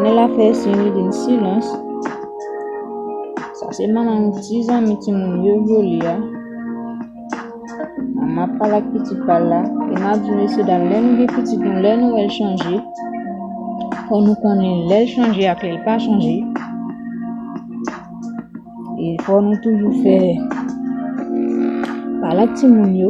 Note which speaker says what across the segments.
Speaker 1: Nèl ap fè siy li vin silans. Sa se manman yon ti zanmi timoun yo vyole a. Manman ap pale ak pitit pa l la. E m ap di mesye dam lè nou gen pitit nou lè nou wè l chanje. Fò nou konnen lè l chanje ak lè l pa chanje. E fò nou toujou fè pale ak timoun yo.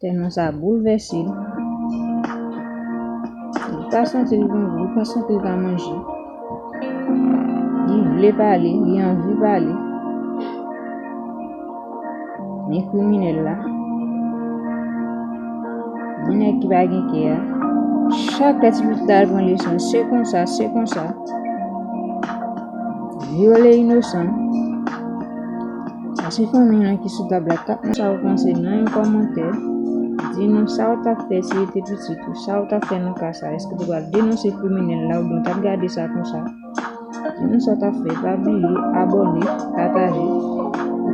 Speaker 1: Tèlman sa boulvèse l. Li pa santi l gen gou, li pa santi l ka manje. Li vle pale, li anvi pale. Men kriminèl la, men nèg ki pa gen kè a, chak lè ti pitit la al pran leson, se konsa, se konsa. Vyole inosan. Ase fanmi an ki sou tab la tap nan sa ou panse nan yon kòmantè. Di nou sa ou tap fè si ou te pitit ou. Sa ou tap fè nan ka sa. Eske ou te pral denonse kriminèl la oubyen ou tap gade sa konsa. Di nou sa ou tap fè. Pa bliye abòne, pataje.